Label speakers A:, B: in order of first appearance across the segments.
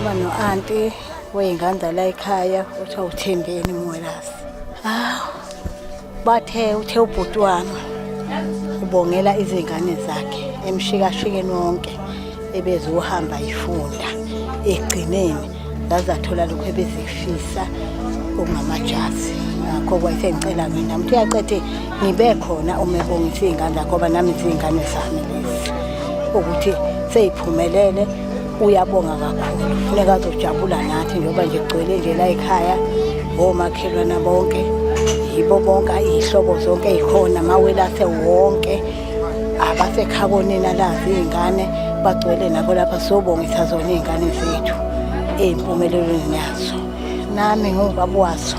A: Uma no-anti wey'ngane la ekhaya kuthiwa uthembeni mwelasi hawu bathe uthe ubhuti wami ubongela izingane zakhe emshikashikeni wonke ebeziwuhamba yifunda egcineni zazathola lokhu ebezifisa umama jazi ngakho kwayesengicela-ke nami ukuthi uyaqede ngibe khona uma ebongisa iy'ngane zakhe ngoba nami ziy'ngane zami lezi ukuthi seyiphumelele uyabonga kakhulu funeka azojabula nathi njengoba nje kugcwele nje la ekhaya omakhelwana bonke yibo bonke iy'hlobo zonke ey'khona amawelase wonke abasekhabonina lazi iy'ngane bagcwele nabo lapha sobongisa zona iy'ngane zethu ey'mpumelelweni yazo nami ngubaba wazo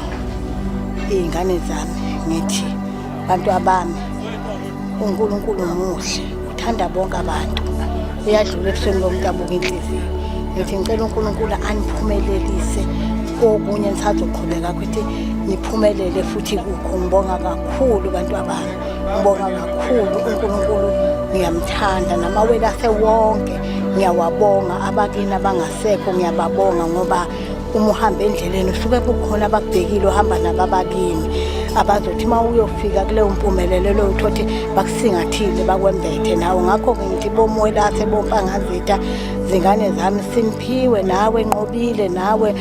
A: iy'ngane zami ngithi bantu abami unkulunkulu muhle uthanda bonke abantu uyadlula ebusweni bomuntu abuka inhliziyo ngithi ngicela unkulunkulu aniphumelelise kokunye nisazoqhubeka ukuthi niphumelele futhi kukho ngibonga kakhulu bantu abami ngibonga kakhulu unkulunkulu ngiyamthanda namawele asewonke ngiyawabonga abakini abangasekho ngiyababonga ngoba uma uhamba endleleni usuke kukhona abakubhekile ohamba nabo abakini abazothi uma uyofika kuleyo mpumelelo leyo uthothi bakusingathile bakwembethe nawo ngakho-ke ngithi bomwelathe bompangazitha zingane zami simphiwe nawe nqobile nawe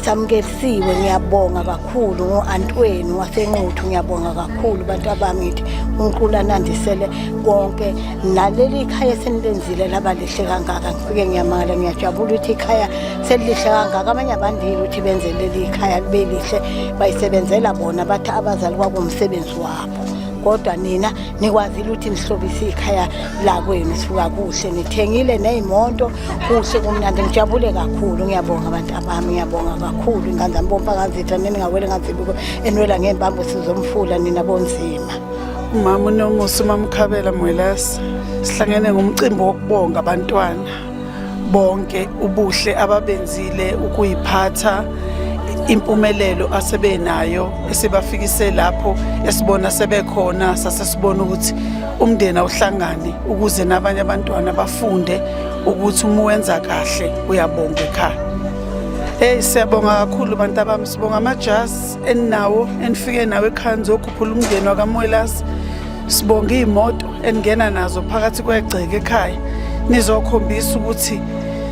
A: samukelisiwe ngiyabonga kakhulu ngo-antwenu wasenquthu ngiyabonga kakhulu bantu abangithi unkulunkulu anandisele konke naleli ikhaya esenilenzile laba lihle kangaka ngifike ngiyamangala ngiyajabula ukuthi ikhaya selihle kangaka abanye abandile ukuthi benze leli ikhaya libe lihle bayisebenzela bona bathi abazali kwakumsebenzi wabo kodwa nina nikwazile ukuthi nihlobise ikhaya lakwenu sifuka kuhle nithengile neyimoto kuhle kumnandi ngijabule kakhulu ngiyabonga abantu abami ngiyabonga kakhulu ingane zami bompa kanzitha nini ngawele nganzibuko enwela ngembambo sizomfula nina bonzima Umama
B: uNomusa uMamkhabela Mwelase sihlangene ngomcimbi wokubonga abantwana bonke ubuhle ababenzile ukuyiphatha impumelelo asebenayo esibafikise lapho esibona sebekhona sasesibona ukuthi umndeni awuhlangane ukuze nabanye abantwana bafunde ukuthi uma wenza kahle uyabonga ekhaya. Hey siyabonga kakhulu bantu abami sibonga amajazi eninawo enifike nawo ekhaya nizokhuphula umndeni wakamwelasi sibonga iy'moto eningena nazo phakathi kwegceke ekhaya nizokhombisa ukuthi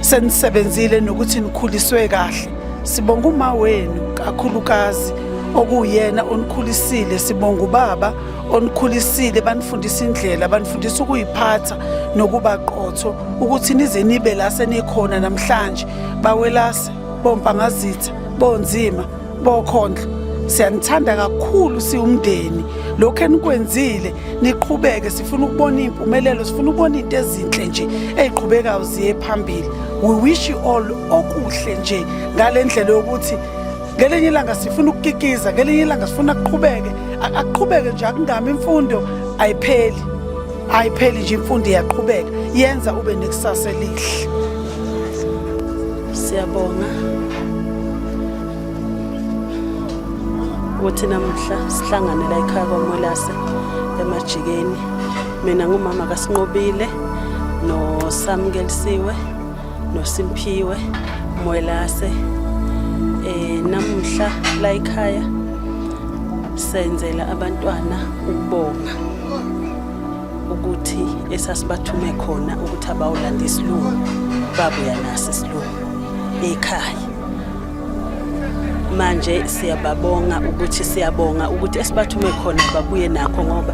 B: senisebenzile nokuthi nikhuliswe kahle sibonga uma wenu kakhulukazi okuyena onikhulisile sibonga ubaba onikhulisile banifundisa indlela banifundisa ukuyiphatha nokuba qotho ukuthi nize nibe la senikhona namhlanje bawelase bompangazitha bonzima bokhondlo siyanithanda kakhulu siwumndeni lokho enikwenzile niqhubeke sifuna ukubona impumelelo sifuna ukubona into ezinhle nje eziqhubekayo ziye phambili we wish you all okuhle nje ngalendlela yokuthi ngelinye ilanga sifuna ukukikiza ngelinye ilanga sifuna kuqhubeke akuqhubeke nje akungami imfundo ayipheli ayipheli nje imfundo iyaqhubeka yenza ube nekusasa elihle
C: Siyabonga ukuthi namuhla sihlangane la ekhaya kwaMolase emajikeni. Mina ngumama kaSinqobile noSamkelisiwe noSimphiwe Molase. Eh namuhla la ekhaya senzela abantwana ukubonga. ukuthi esasibathume khona ukuthi abawulanda isilungu babuya naso isilungu ekhaya manje siyababonga ukuthi siyabonga ukuthi esibathume khona babuye nakho ngoba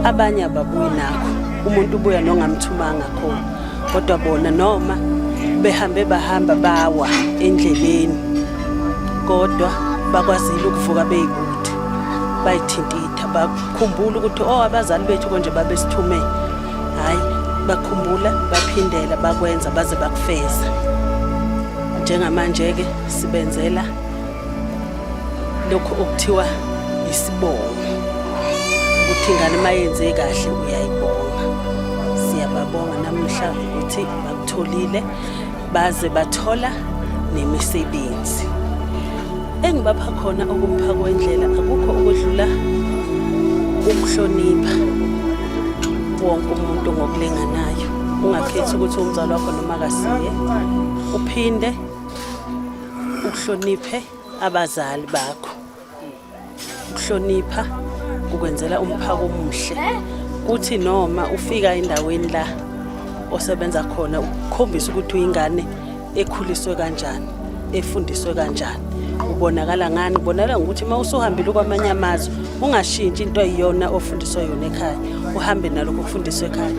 C: abanye ababuyi nakho umuntu ubuya nongamthumanga khona kodwa bona noma behambe bahamba bawa endleleni kodwa bakwazile ukuvuka beyikude bayithinta itha khumbula ukuthi o oh, abazali bethu konje babesithume hhayi bakhumbula baphindela bakwenza baze bakufeza njengamanje-ke sibenzela lokhu okuthiwa isibongo ukuthi ingane uma yenze kahle uyayibonga siyababonga namuhla ukuthi bakutholile baze bathola nemisebenzi engibapha khona okumpha kwendlela akukho okudlula ukuhlonipha wonke umuntu ngokulinganayo ungakhethi ukuthi umzali wakho noma kasiye uphinde ukuhloniphe abazali bakho ukuhlonipha ukwenzela umphako omuhle kuthi noma ufika endaweni la osebenza khona ukukhombisa ukuthi uyingane ekhuliswe kanjani efundiswe kanjani ubonakala ngani ubonakala ngokuthi uma usuhambile kwamanye amazwe ungashintshi into eyiyona ofundiswa yona ekhaya uhambe nalokho kufundiswa ekhaya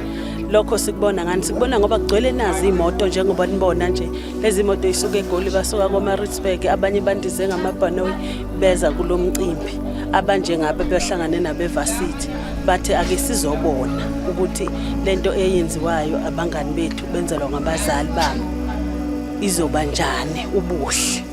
C: lokho sikubona ngani sikubona ngoba kugcwele nazi imoto njengoba nibona nje lezi moto isuke egoli basuka komaritzburg abanye bandize ngamabhanoyi beza kulo mcimbi abanjengaba behlangane nabevasithi bathi ake sizobona ukuthi lento eyenziwayo abangani bethu benzelwa ngabazali bami izoba njani ubuhle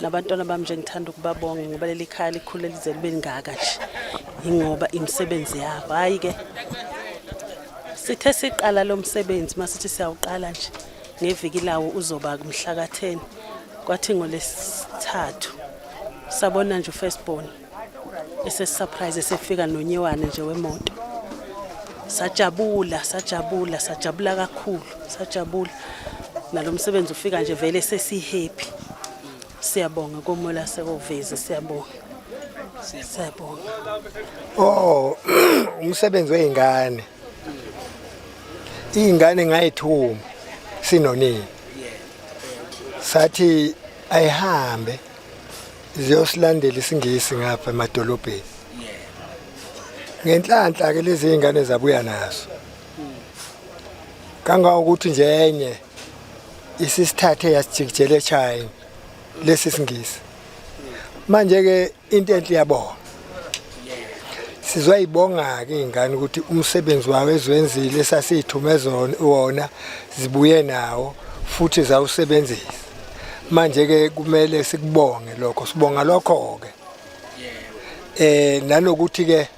C: nabantwana bami nje ngithanda ukubabonga ngoba leli khaya likhule lize libe lingaka nje ingoba imisebenzi yabo hhayi ke sithe siqala lo msebenzi masithi siyawuqala nje ngeviki lawo uzoba kumhlakatheni kwathi ngolesithathu sabona nje ufirstborn esesurprise esefika nonyewane nje wemoto sajabula sajabula sajabula kakhulu sajabula nalo msebenzi ufika nje vele sesihappy siyabonga komola sekovezi siyabonga siyabonga oh
D: umsebenzi weingane ingane ngayithuma sinonini sathi ayihambe ziyosilandela isingisi ngapha emadolobheni ngenhlanhla ke lezi zingane zabuya nazo kangangokuthi nje enye isisithathe yasijikijela eChina lesi singisi manje ke into enhle yabona sizoyibonga ke ingane ukuthi umsebenzi wawo ezwenzile esasithumezona wona zibuye nawo futhi zawusebenzisa manje ke kumele sikubonge lokho sibonga lokho ke eh nanokuthi ke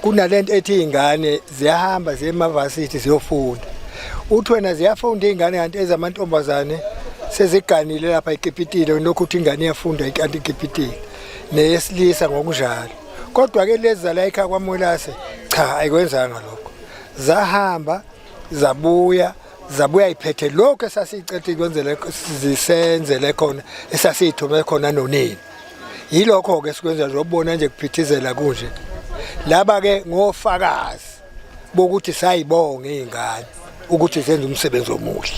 D: kunalento ethi ingane ziyahamba ziye emavasithi ziyofunda uthi wena ziyafunda ingane kanti ezamantombazane seziganile lapha eKipitile lokhu uthi ingane iyafunda ikanti eKipitile neyesilisa ngokunjalo kodwa ke lezi zala ekhaya kwaMolase cha ayikwenzanga lokho zahamba zabuya zabuya iphethe lokho esasiyicethe kwenzele zisenzele khona esasiyithume khona nonini yilokho ke sikwenza zobona nje kuphithizela kunje laba ke ngofakazi bokuthi sayibonga izingane ukuthi zenze umsebenzi omuhle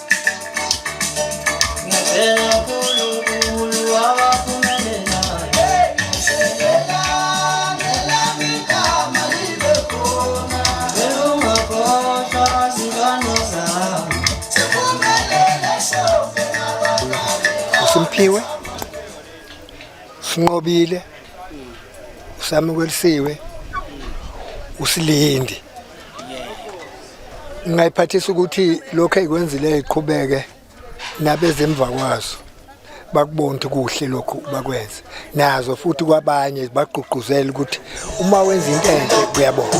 D: Simphiwe sinqobile usamukeliwe usilindi ngingayiphathisa ukuthi lokho ekwenzile iqhubeke nabezemva kwazo bakubona ukuthi kuhle lokhu bakwenze nazo futhi kwabanye bagqugquzela ukuthi uma wenza into enhle kuyabona